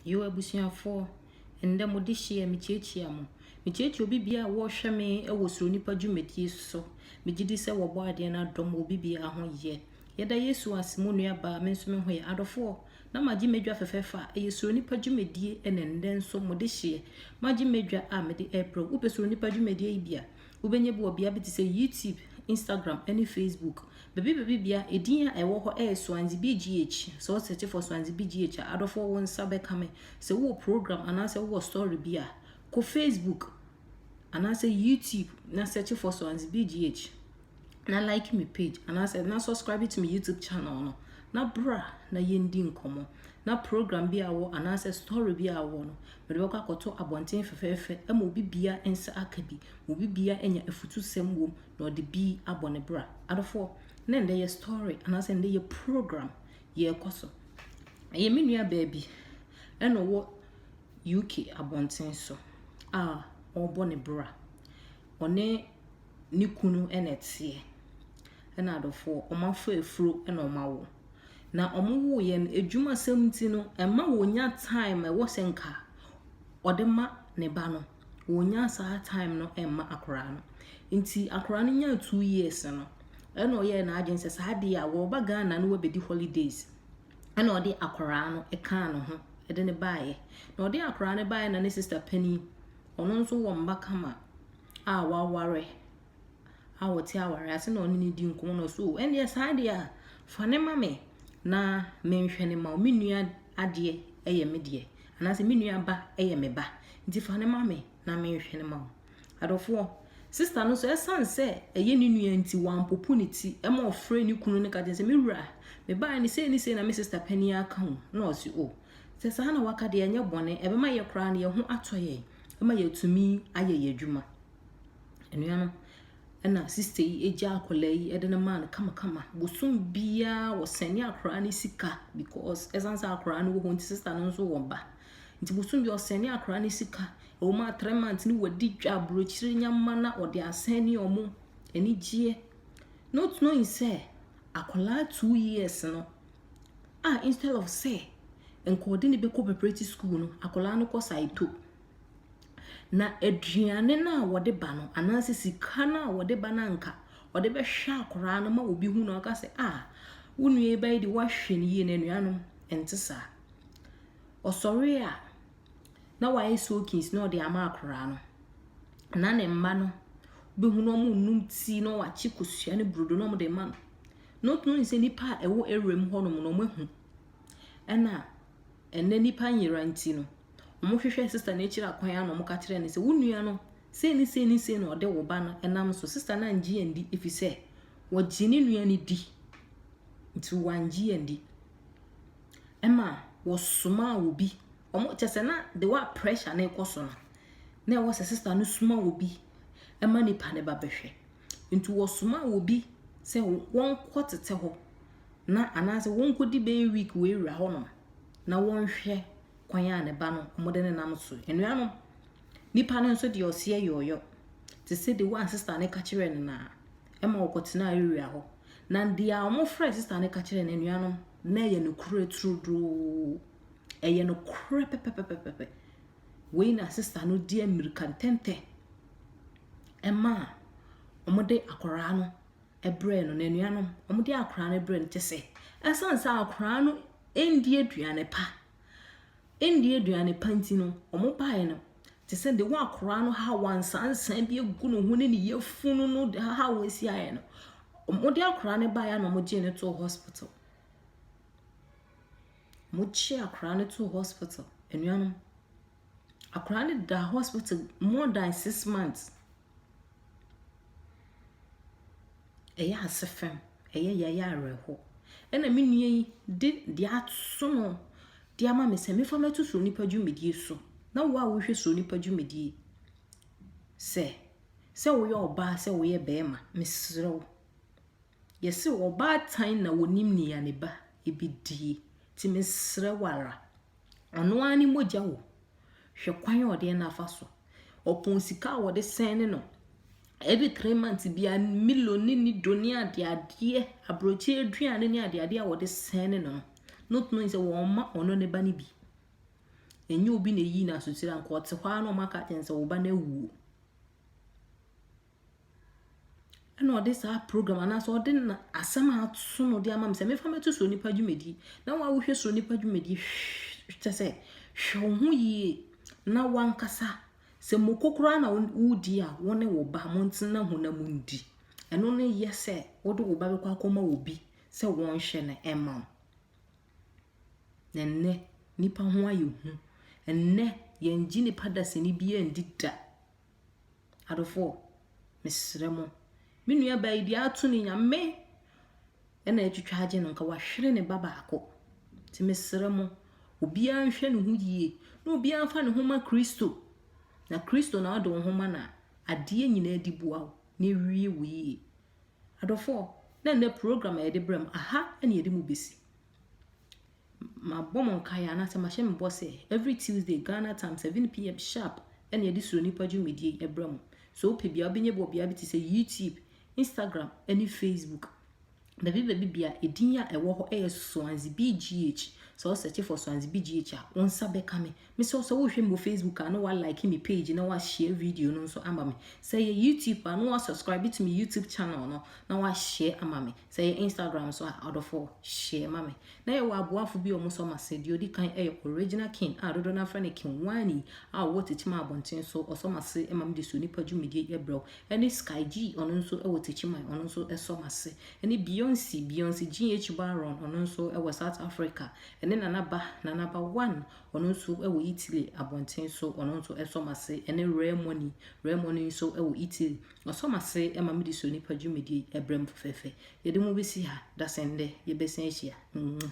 Yo abusuafoɔ, ɛndɛ mo dehyeɛ mekyiakyia mo. Mekyiakyia obi biaa wɔɔhwɛ me wɔ Suro Nipa dwumadie so. Megyedi sɛ wɔbɔ adeɛ no adom wɔ obi biaa ho yɛ. Yɛda Yesu ase mo nuabaa me nso meho yɛ. Adɔfoɔ, na magye m'adwa fɛfɛɛfɛ a ɛyɛ Suro Nipa dwumadie na ɛndɛ nso mo dehyeɛ. Magye m'adwa a mede ɛɛbrɛ wo. Wopɛ Suro Nipa dwumadie yi bi a. Wobɛnya bi wɔ bea bi te sɛ YouTube, Instagram, ne Facebook. Baabi baabi bia, edin a ɛwɔ hɔ yɛ Swansea BGH. Sɛ wo search for Swansea BGH a, adɔfoɔ wo nsa bɛka me. Sɛ wowɔ program anaasɛ wowɔ story bi a, kɔ Facebook anaasɛ YouTube na search for Swansea BGH. na like me page anaasɛ na subscribe to me YouTube channel no na bra na yɛndi nkɔmmɔ na program bi a wɔ anaasɛ story bi a wɔ no mede bɛkɔ akɔto abɔnten fɛfɛɛfɛ ma obi bia nsa aka bi ma obi bia anya afutusɛm wom na ɔde bi abɔ ne bra adofoɔ na ndɛ yɛ story anaasɛ ndɛ yɛ program yɛrekɔ so ɛyɛ me nua baabi ɛna ɔwɔ UK abɔnten so a ɔrebɔ ne bra ɔne ne kunu na ɛteɛ, ɛna adɔfoɔ, wɔafa afuro na wɔawo. Na wɔwoeɛ no, adwumasɛm nti no, ɛmma wɔnnya time a ɛwɔ sɛ nka ɔde ma ne ba no, wɔnnya saa time no mma akwadaa no. Nti akwadaa no nyaa two years no, ɛna ɔyɛɛ n'adwene sɛ saa adeɛ a wɔreba Ghana na wɔabɛdi holidays, ɛna ɔde akwadaa no kaa ne ho de no baeɛ. Na ɔde akwadaa no baeɛ na ne sista panin ɔno nso wɔ mma kama a waware a ɔte awareɛ ase na ɔne no di nkɔmmɔ na ɔso ɛnneɛ saa deɛ a fa ne ma me na menhwɛ ne ma me nua adeɛ yɛ me deɛ anaasɛ me nua ba yɛ me ba nti fa ne ma me na menhwɛ ne ma wo adɔfoɔ sista no nso ɛsiane sɛ ɛyɛ ne nua nti wampopo ne ti ɛma ɔfrɛ ne kunu no ka kyerɛ sɛ me wura mebaeɛ ne sei ne sei na me sista panin aka ho na ɔse o Sɛ saa na waka deɛ ɛnyɛ bɔne, ɛbɛma yɛ koraa no yɛ ho atɔ yɛn ma yɛatumi ayɛ yɛ adwuma. Nnua no, ɛna sista yi gya akwadaa yi de no maa no kamakama. Bosom biara wɔsɛne akwadaa no sika because ɛsan sɛ akwadaa no wɔ hɔ nti sista no nso wɔ ba. Nti bosom biara ɔsɛne akwadaa no sika. Ɛwɔ mu a three months no wɔadi dwa aburokyire nyama na ɔde asɛne wɔn anigyeɛ. Not knowing sɛ akwadaa two years no a instead of sɛ nka ɔde no bɛkɔ preparatory school no akwadaa no kɔ saito na aduane no a wɔde ba no anaasɛ sika no a wɔde ba no anka ɔde bɛhwɛ akwadaa no ma obi hu na ɔka sɛ a ah, wo nua yi bɛyɛ de wahwɛ no yie na anuanom ɛnte saa ɔsɔre a na wayɛ soakings na ɔde ama akoraa no na ne mma no bɛhu na wɔn num tii na wakye kosua ne brodo na wɔn de ma no not knowing sɛ nipa a ɛwɔ area mu hɔnom no wɔn ahu ɛna ɛnɛ nipa nyera nti no wɔn hwehwɛ sista no akyiri akwan ano wɔn ka kyerɛ no sɛ wo nua no sei ne sei ne sei na ɔde wo ba no ɛnam so sista no angye andi efisɛ wɔgye ne nua no di nti wangye andi. ɛma wɔsomaa obi. Wɔn kyɛ sɛ na the way a pressure no rekɔ so no, na ɛwɔ sɛ sista no soma obi ma nipa no ba bɛhwɛ. Nti wɔsoma obi sɛ wɔnkɔ tete hɔ na anaasɛ wɔnkɔdi bɛyɛ week wɔawura hɔnom na wɔnhwɛ kwan a ne ba no wɔde ne nam so. Anuanom, Nipa no nso de ɔseɛ yɔɔyɔ te sɛ de wɔn sista no ka kyerɛɛ no naa ɛma ɔkɔtenaa Uria hɔ. Na deɛ a wɔfrɛ sista no ka kyerɛɛ no anuanom na ɛyɛ nokorɛ turodoo. Ɛyɛ nokorɛ pɛpɛpɛpɛpɛ. Wei na sista no di mmirika ntɛntɛ ɛma a wɔde akwaraa no brɛɛ no n'anuanom wɔde akwaraa no brɛɛ no kyɛ sɛ ɛsan sɛ akwaraa no ɛndi aduane pa Ɛnni aduane pa nti no, wɔbaeɛ no, te sɛ de wɔakora no haw ansansan bi agu ne ho ne ne yafunu no de haw asi ayɛ no, wɔde akora no baeɛ na wɔgyee no too hospital. Wɔgye akora no too hospital. Anuanom, akora no da hospital more than six months. ɛyɛ ase fɛm, ɛyɛ ya, ɛyɛ awerɛhow. Ɛna me nua yi de deɛ aso no de ama me sɛ mefa mmɛto Suro Nipa dwumadie so. Na wo a wohwɛ Suro Nipa dwumadie sɛ, sɛ woyɛ ɔbaa sɛ woyɛ bɛrima, mesrɛ wo. Yɛse ɔbaatan na wɔnim nea ne ba ɛbɛdie. Nti mesrɛ wo ara. Ɔno ara ne mogya o. Hwɛ kwan a ɔde no afa so. Ɔpɔn sika a wɔde sɛn ne no. Every three months bia milo ne ne do ne adeadeɛ, aburokyi aduane ne adeadeɛ a wɔde sɛn ne no no. Not knowing sɛ wɔn ma ɔno ne ba no bi. Ɛnyɛ obi na eyi n'asokyerɛ anka ɔte hɔ ara na wɔn aka kyɛn sɛ wo ba no awuo. ɛna ɔde saa program anaasɛ ɔde na asɛm a aso na ɔde ama me sɛ mefa mɛto so nipa dwumadi na wɔn a wohwɛ so nipa dwumadi kyɛ sɛ hwɛ wo ho yie na wankasa sɛ moko koraa na wodi a wo ne wo ba mo ntena ho na mo ndi ɛno ne yɛ sɛ wode wo ba bɛkɔ akɔma obi sɛ wɔnhwɛ no ɛma wo na nnɛ nipa ho ayɛ hu nnɛ yɛngye nipa dasani bi andi da Adɔfoɔ, mesrɛ mo, me nuabaa yi deɛ ato ne nyame ɛna atwitwa agye no nka wahwere ne ba baako. Nti mesrɛ mo, obiara nhwɛ ne ho yie na obiara mfa ne ho ma Kristo. Na Kristo na ɔde wo ho ma no a, adeɛ nyinaa di boa wo na ɛwie wo yie. Adɔfoɔ, na nnɛ program a yɛde brɛ mu, aha ɛna yɛde mu bɛsi. Mabɔ mo nkaeɛ anaasɛ mahyɛ me bɔ sɛ every Tuesday Ghana time 7pm sharp na yɛde Suro Nipa dwumadie yi brɛ mo. Sɛ wopɛ bi a wobɛnya bi wɔ beaeɛ bi te sɛ YouTube, Instagram ne Facebook. Baabi baabi bia edin a ɛwɔ hɔ yɛ Soanzi BGH. Sɛ wo search for Soanzi BGH a, wo nsa bɛka me. Mesrɛ wo sɛ wohwɛ me wɔ Facebook a na wa like me page na wa share video no nso ama me. Sɛ yɛ YouTube a na wa subscribe to me YouTube channel no na wa share ama me. Sɛ yɛ Instagram so a ɔdɔfo share ma me. Na yɛ wɔ aboafo bi a wɔn sɔ mase. Deɛ odi kan yɛ Original King a dodoɔ no afrɛ no King Wani a ɔwɔ Techiman abɔnten so. Ɔsɔ mase ma me de so nipa dwumadie yɛ brɛw. Ɛne Sky G ɔno nso wɔ Techiman ɔno nso sɔ mase. Ɛne Beyonce Beyonce GH Baron ɔno nso wɔ South Africa. Ɛne Nana Ba Nana Ba One Ɔno nso wɔ Italy abɔnten so. Ɔno nso sɔ m'ase. Ɛne Rare Money. Rare Money nso wɔ Italy. Ɔsɔ m'ase ma mede sɔ nnipa dwumadi brɛ mo fɛfɛɛfɛ. Yɛde mo bɛsi ha. Dasɛn dɛ yɛbɛsan ahyia. Mwah.